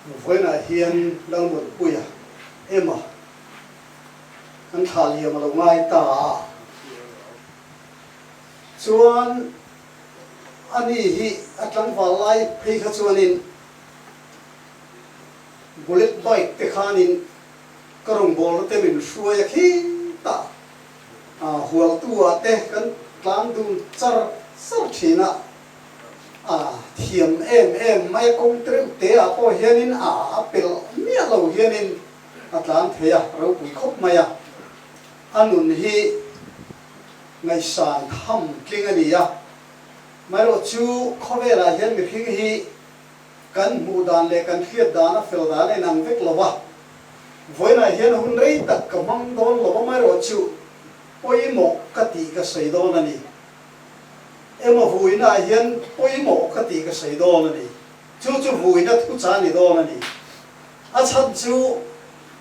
Vawiinah hian Lalmuanpuia Emma kan thla liam a lo ngai ta a, chuan ani hi a tlangval lai phei kha chuanin bullet bike te khanin ka rawngbawlna te min hruai a khing ta, hualtu ah te kan tlang dun char char thin a. A thiam em em mai kawng treuh te ah pawh hianin a a pel miah lo hianin a tlan thei a, ropui khawp mai a. A nun hi ngaisan ham tling a ni a, maherawh chu khawvelah hian mihring hi kan hmuh dan leh kan hriat dan a fel dan a inang vek lo a. Vawiinah hian hun rei tak ka hmang dawn lo a, maherawh chu pawimawh ka tih ka sawi dawn a ni. Emaw vuina ah hian pawimawh ka tih ka sawi dawn a ni. Chu chu vuina thu chah a ni dawn a ni. A chhan chu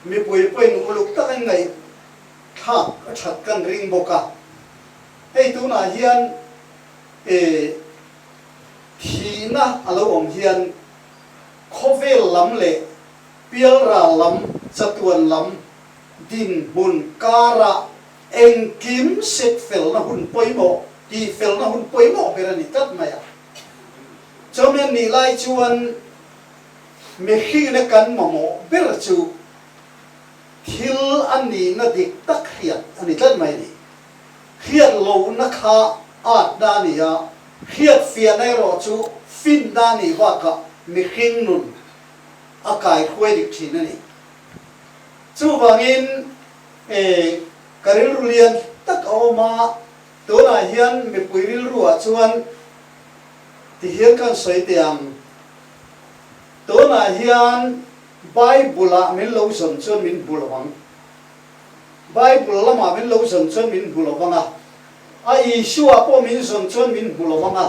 mipui pawhin uluk takin ngaihthlak a that kan ring bawk a. Hei tunah hian eh thihna a lo awm hian khawvel lam leh pialral lam, chatuan lam, dinhmun, kara Engkim sek felna hun pawimawh, tih felna hun pawimawh ber a ni tlat mai a. Chaumian nih lai chuan mihrihna kan mamawh ber chu thil a nihna dik tak hriat a ni tlat mai a ni. Hriat lohna kha atna a ni a, hriat fiahna erawh chu finna a nih bakah mihring nun a kaihruai dik thin a ni. Chuvangin. E, ka rilru lian tak a awm a, tunah hian mipui rilruah chuan ti hian kan sawi teh ang. Tunah hian Bible-ah min lo zawn chuan min hmu lo ang. Bible lamah min lo zawn chuan min hmu lo vang a, a Isua pawh min zawn chuan min hmu lo vang a.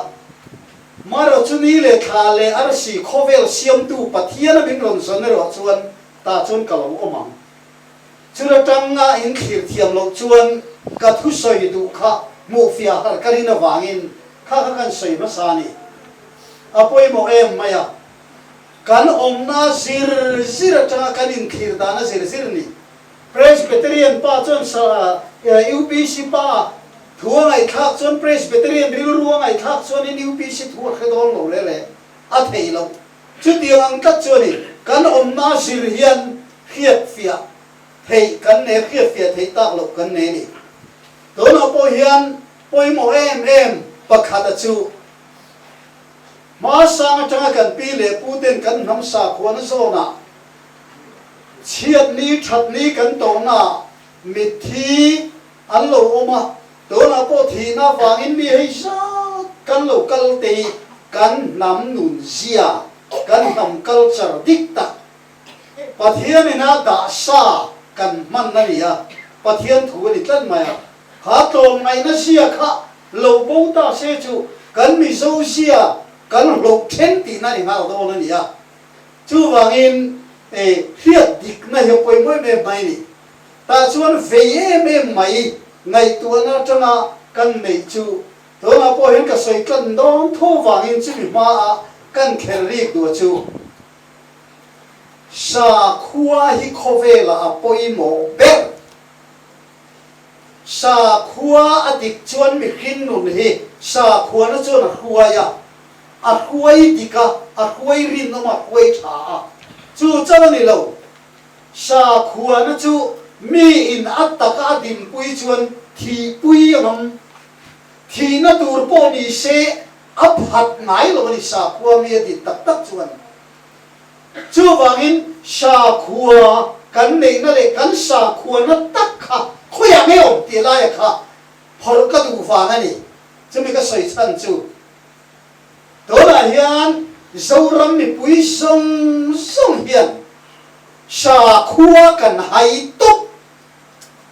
Marawhchu ni leh thla leh arsi khawvel siamtu Pathiana min rawn zawn erawh chuan tah chuan ka lo awm ang. Chu la tangna in thlir thiam loh chuan ka thusawi duh kha hmuhfiah har ka rin avangin kha kha kan sawi hmasa a ni. A pawimawh em mai a, kan awmna zir zir atanga kan inthlir dan a zir zir ni. Presbyterian pa chuan UPC pa a thu a ngaihthlak chuan Presbyterian rilru a ngaihthlak chuan in UPC thu a hre dawn lo rere a thei loh. Chutiang ang tlat chu a ni. Kan awmna zir hian hriatfiah theih kan nei a, hriatfiah theih tak loh kan nei a ni. Tunah pawh hian pawimawh em em pakhata chu hmarsang atanga kan pi leh pute'n kan hnam sakhuana zawnah chhiatni, thatni kan tawhna mitthi, An lo awm a, tunah pawh thihna vangin mi hei zat kan lo kal te i kan hnam nun zia, kan hnam culture dik tak Pathian ina dah sa kan hman a ni a, Pathian thu a ni tlat mai a. Kha tlawm ngaihna zia kha lo bo ta se chu kan Mizo zia kan hlawh then tihna ni nghal dawn a ni a, chuvangin hriat dikna hi a pawi muih mek mai a ni. Tah chuan vei em em mai ngaihtuahna atanga kan neih chu tunah pawh hian ka sawi tlan dawn tho vangin chumi hmaa kan kher rîk duh a chu sa khua hi khawvela a pawimawh ber. Sa khua a dik chuan mi hrinnun hi sa khuana chuan a hruai a, a hruai dik a, a hruai rinawm a hruai tha a, chu chauh a ni lo. Hra khuana chu mi in a taka a dinpui chuan thihpui a ngam. Thihna tur pawh ni se a phat ngai lo a ni hra khua mi a din tak tak chuan. Chuvangin hra khua kan neihna leh kan hra khuana tak kha khawiah nge awm tih laia kha phawrh ka duh vang a ni. Chumi ka sawi chhan chu. Tunah hian Zoram mipui zawng zawng hian sakhua kan hai tawp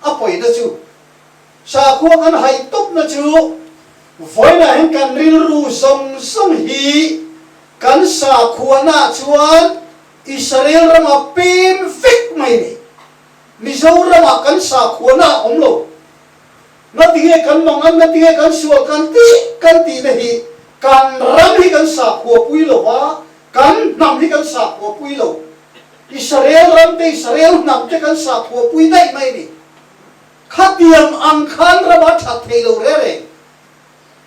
a pawina chu sakhua kan hai tawpna chu vawiinah hian kan rilru zawng zawng hi kan sakhuanaah chuan Israel rama pem vek mai nei Mizoramah kan sakhuana a awm lo. Na ti nge kan mang an, na ti nge kan sual kan tih kan tihna hi kan ram hi kan sakhua pui lo a, kan hnam hi kan sakhua pui lo. Israel ram te, Israel hnam te kan sakhua pui daih mai ni? Khatiang ang khan rama that thei lo rereng.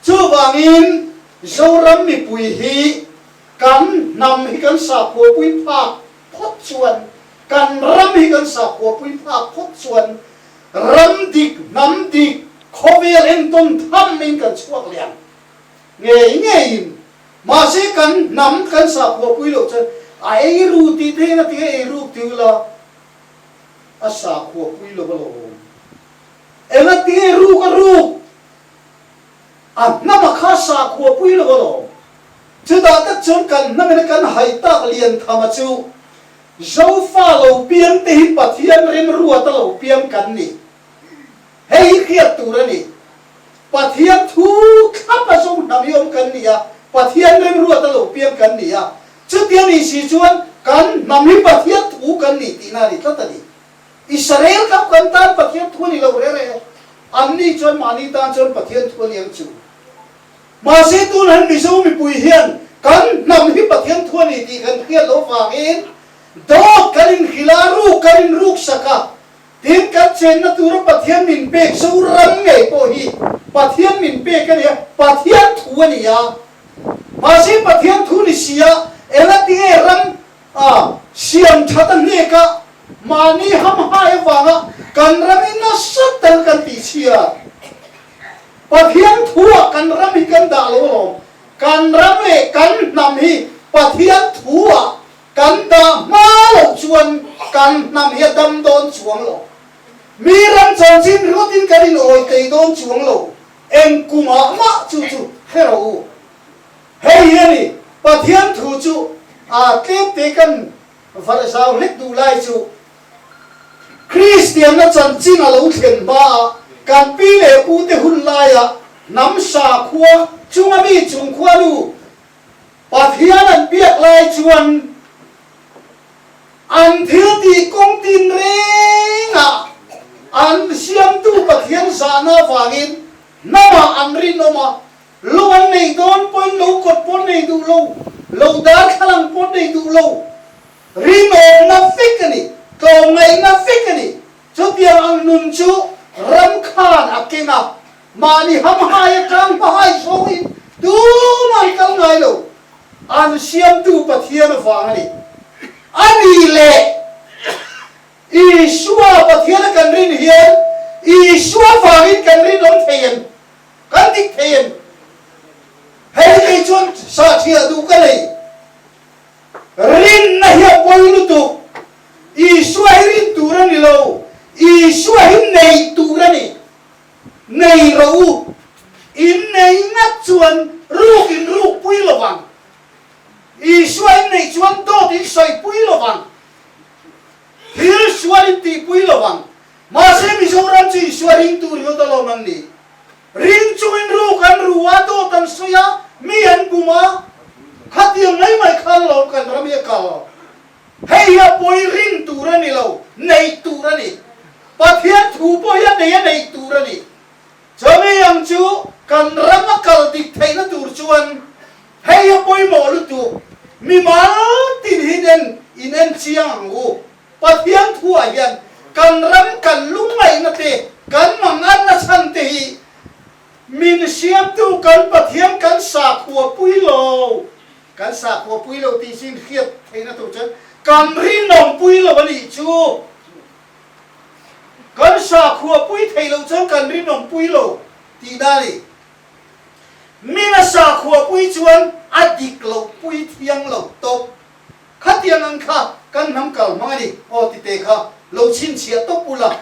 Chuvangin Zoram mipui hi kan hnam hi kan sakhua pui phak phawt chuan, kan ram hi kan sakhua pui phak phawt chuan Ram dik, hnam dik, khawvel engtawn tham in kan chhuak liam ngei ngeiin, mahse kan hnam kan sa phuapui loh chuan a ei ru tih dahin a tinga ei ruk ti ula, a sa phuapui lo va lo awm. Enga ti nge ruk a ruk, a hnama kha sa khuapui lo va lo awm. Chutah tak chuan kan hnamina kan hai tak lian thama chu. Zofa lo piang te hi Pathian rimruat a lo piang kan ni. Hei hi hriat tur a ni. Pathian thu thlap a zung hna mi awm kan ni a, Pathian rimruat a lo piang kan ni a. Chutia ni si chuan kan hnam hi Pathian thu kan ni tihna a ni tlat a ni. Israel kha kan tan Pathian thu a ni lo rere, anni chuan mahni tan chuan Pathian thu a ni ang chu. Mahse tun han Mizo mipui hian kan hnam hi Pathian thu a ni tih kan hriat loh vangin dawt kan inhrilh a, ruk kan inruk sak a. Tin, kan chenna tura Pathian min pek zo rang ngei pawh hi Pathian min pek a nia, Pathian thu a ni a. Mahse Pathian thu ni siah ela tinge ram a siam that a hneka mahni hamhai avanga kan ram i nasa tal kan tihchhiat? Pathian thu ah kan ram hi kan dah lo alawm. Kan ram leh kan hnam hi Pathian thu ah kan dah hma lo chuan kan hnam hi a dam dawn chuang lo. Mi ram chho chin ringawt in kan inhawi tei dawn chuang lo, eng ku mah mah chu chu hrelo u. Hei hi a ni, Pathian thu chu aa tlêp te kan varh zau hlek duh lai chu, Kristianna chanchin a lo thlen hma ah kan pi leh pu te hun lai ah hnam hra khua chung a mi chung khua lu Pathian an biak lai chuan an thil ti kawng tin reng ah an Siamtu Pathian zah na vang in hnam ah an rinawm a, lo an nei dawn pawhin lo kawt pawh an nei duh lo, lo darthlalang pawh an nei duh lo. Rinawmna fik a ni, tlawmngaihna fik a ni. Chutiang ang nun chu ram khan a keng a, mahni hamhai atang hmahai zawngin tum an kal ngai lo. An Siamtu Pathian avang a ni. A ni le! Isua Pathiana kan rin hian Isua vangin kan rinawm thei em? Kan dik thei em? Hei hei chuan sahthiah duh ka nei. Rinna hi a pawi lutuk. Isua hi rin tur a ni lo. Isua hi nei tur a ni. Nei rawh u. In nei ngat chuan ruk in ruk pui lo vang. Isua in nei chuan dawt in sawi pui lo vang. Thil sual in ti pui lo vang. Mahse Mizoram chu Isua rin tur hi a dawn lo nang ni. Ring chungin ruk an ru a, dawt an sawi a, mi an bum a, khatiang mai mai kha an lawm kan ram hi a kal. Hei hi a pawi rin tur a ni lo, nei tur a ni. Pathian thu pawh hian nei a nei tur a ni. Chumi ang chu kan ram a kal dik theihna tur chuan hei hi a pawimawh lutuk mi mal tin hi nen in enchiang ang u. Pathian thu ah hian kan ram kan lungngaihna te, kan mang arna chhan te hi min hriamtu kan Pathian kan sakhua pui lo, kan sakhua pui lo tih chu inhriat theihna tur chuan kan rinawm pui lo a nih chu. Kan sakhua pui theih loh chuan kan rinawm pui lo tih na ni. Min a sakhua pui chuan a dik loh pui thiang lo tawp. Khatiang an kha kan hnam kal hmang a ni aw tite kha lo chhinchhiah tawp ula,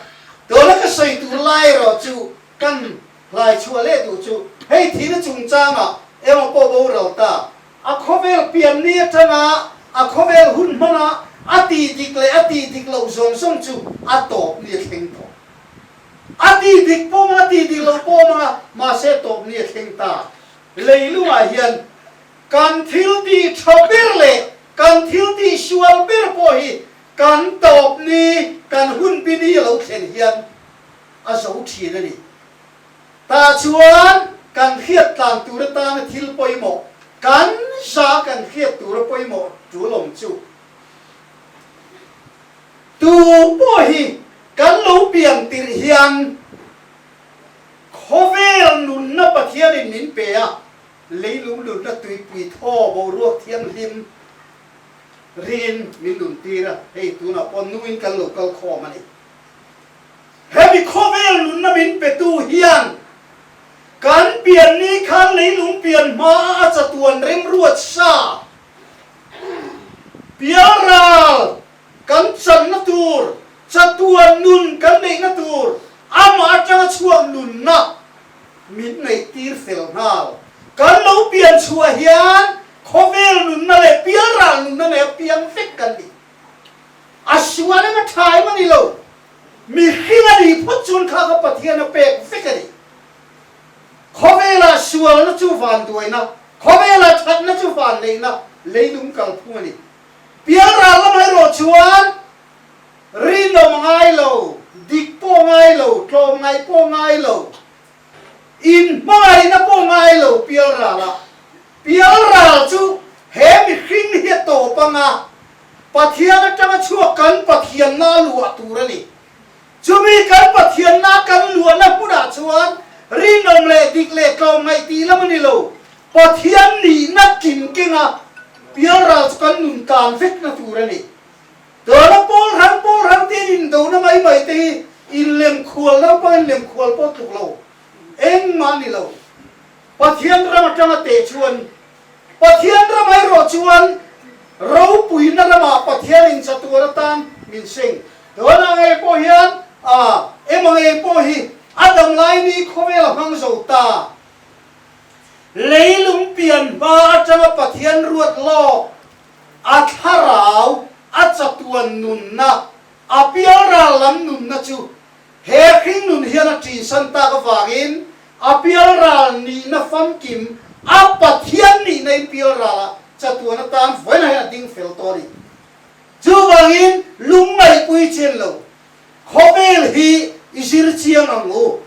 tuna ka sawi tur lai erawh chu kan hlai chhuah leh duh chu hei thina chungchanga emaw pawh boral ta a khawvel pianni atanga a khawvel hun hmana a ti dik leh a ti dik loh zawng zawng chu a tawp ni a thleng tawh a ti dik pawh mang a ti dik loh pawh mang a mahse tawp ni a thleng ta leilungah hian Kan thil ti tha ber leh kan thil ti sual ber pawh hi kan tawp ni, kan hun pi ni lo thlen hian a zo thin a ni. Tah chuan kan hriat tlang tur atana thil pawimawh, kan za kan hriat tur a pawimawh tulawm chu tu pawh hi kan lo piang tirh hian khawvel nunna Pathianin min pe a, Leilung lunna tuipui thaw boruak thianghlim ringin min luntir a, hei tunah pawh nuin kan lo kal khawm a ni. Hemi khawvel nunna min petu hian kan pianni khan leilung pian hmaa a chatuan remruat sa, pialral Kan channa tur, chatua nun kan neihna tur, amah atanga chhuak nunna min ngaihtir fel nghal. Kan lo pian chhuah hian khawvel nunna leh pialral nunna nei a piang vek kan ni. A sual em a tha em a ni lo, mihring a nih phawt chuan kha kha Pathian a pek vek a ni. Khawvela sualna chu vanduaina, khawvela thatna chu vanneihna, leidum kalphung a ni. Bialral lam erawh chuan rinawm ngai lo, dik pawh ngai lo, tlawm ngaih pawh ngai lo, in hmangaihna pawh ngai lo Pialralah. Pialral chu he mihring hi a tawp anga Pathian atanga chhuak kan Pathianna a luah tur a ni. Chumi kan Pathianna kan luahna hmunah chuan rinawm leh dik leh tlawm ngaih tih lam a ni lo. Pathian nihna tling kenga pialral chu kan nun tan vekna tur a ni. Tuna Paul hrang Paul hrang te'n indona mai mai te hi inlem khual naupang in lem khual pawh tluk lo engmah a ni lo. Pathian ram atanga teh chuan Pathian ram erawh chuan ropuina ramah Pathian inchatuar atan min hreih. Tunah ngei pawh hian a emaw ngei pawh hi a damlaini khawvel a hmang zo ta. Lei lung pian hma atanga Pathian ruat lawk a thlarau a chatuan nunna, a pialral lam nunna chu He hringnun hian a tinsan tak avangin a bialral nihna famkim a Pathian nihna in bialrala chatuan atan vawiinah hian a ding fel tawh a ni. Chuvangin lungngaihpui chen lo khawvel hi i zir chiang ang u.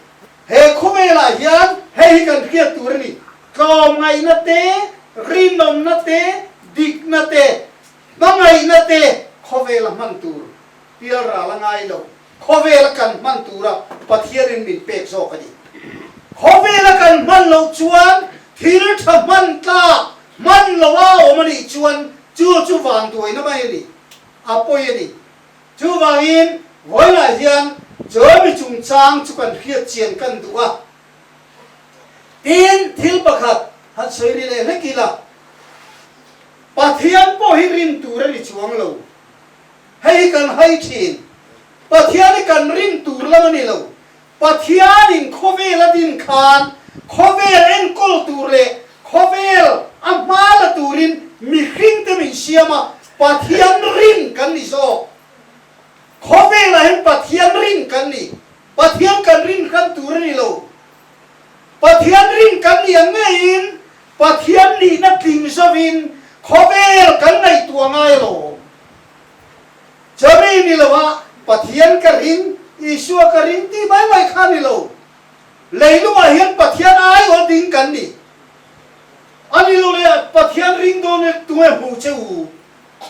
He khawvelah hian hei hi kan hriat tur a ni, tlawmngaihna te, rinawmna te, dikna te, hmangaihna te khawvela hman tur bialrala ngai lo. Khawvela kan hman tura Pathianin min pek zawk a ni. Khawvela kan hman lo chuan thil tha hman tlak hman loh a awm a nih chuan chu chu van duaina mai a ni, a pawi a ni. Chuvangin vawilah hian Chawlhmi chungchang chu kan hriatchian kan duh a. Tin, thil pakhat han sawi ri leh hlek ila, Pathian pawh hi rin tur a ni chuang lo. Hei hi kan hai thin, Pathian hi kan ring tur lam a ni lo. Pathian in khawvel a din khan khawvel enkawl tur leh khawvel a hma la turin mihring te min siam a, Pathian ring kan ni zawk. Khawvel ah hian Pathian ring kan ni, Pathian kan ring hran tur a ni lo. Pathian rin kan ni ang ngeiin Pathian nihna tling zovin khawvel kan ngaihtuah ngai alawm. Chari ni loa Pathian ka rin, Isua ka rin tih mai mai kha ni lo. Leilungah hian Pathian a aiawlh ding kan ni. A ni lo le Pathian rin dawn e tunge hmu che u.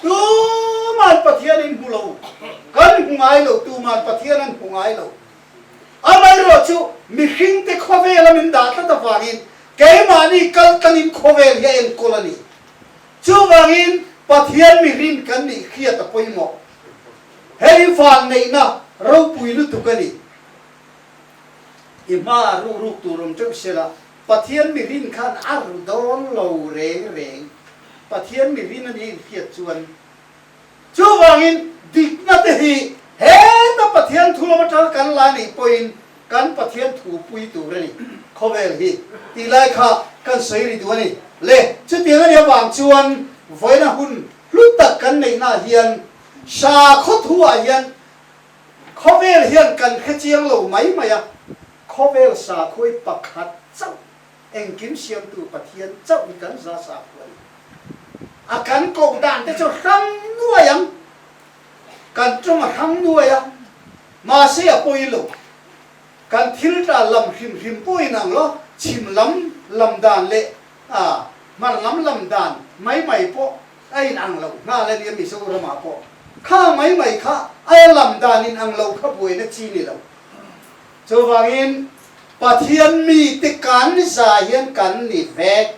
Tuman Pathian in hmu lo, kan hmu ngai lo, tuman Pathian an hmu ngai lo. Amaherawhchu chu mihringte khawvel a min dah tlat avangin keimahni kaltlangin khawvel hi a enkawl a ni. Chuvangin Pathian mihring kan nih hriat a pawimawh. Hei hi van neihna ropui lutuk a ni. I hmaa ruhruk tur awm teuh sela Pathian mihring khan a ru dawn lo reng reng. Pathian mihring anih hriat chuan Chuvangin, dikna te hi heta Pathian thulawm aṭang kan la neih pawhin kan Pathian thu pui tur a ni. Khawvel hi tih lai kha kan sawi ri duh a ni. Le, chutiang a nih avang chuan vawiina hun hlut tak kan neihnaah hian hra khawthuah hian khawvel hian kan hre chiang lo mai mai a, khawvel sakhawi pakhat chauh Engkim Siamtu Pathian chauh hi kan za sakhuh a ni. A kan koh dan te chu hram nuai ang, kan tawng a hram nuai a, mahse a pawi lo. Kan thil tla lam hrim hrim pawh in ang lo, chhim lam lam dan leh hmar lam lam dan mai mai pawh a in ang lo nghal a nia, Mizoram ah pawh kha mai mai kha a lam dan in ang lo kha buaina chi ni lo. Chuvangin, Pathian mi te kan ni zai hian kan ni vek.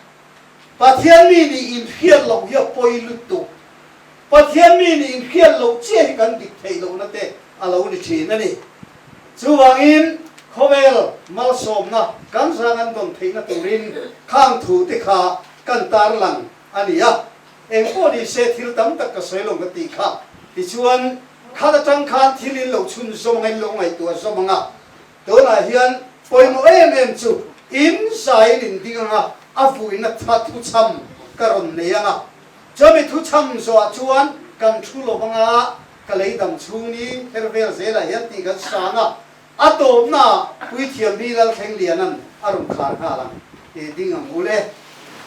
Pathian mi nih inhriat loh hi a pawi lutuk. Pathian mi nih inhriat loh chiah hi kan dik theih lohna te a lo ni thin a ni. Chuvangin, khawvel malsawmna kan zang an dawn theihna turin khang thu te kha kan tarlang a ni a. Eng pawh ni se thil tam tak ka sawi lo ka ti kha. Tichuan, khat atang khan thil in lo chhun zawm anga in lo ngaihtuah zawm anga, tunah hian pawimawh em em chu in zaiin in ding anga a vuina tha thuchham ka rawn nei anga. Chuan mi thuchham zawhah chuan kan thu lo anga ka leidang chhung i her vel zelah hian tih kan sa anga a tawpnaah Puithiam hi Lalthleng Lianan a rawn khar nghal ang. Ê ding ang ul e.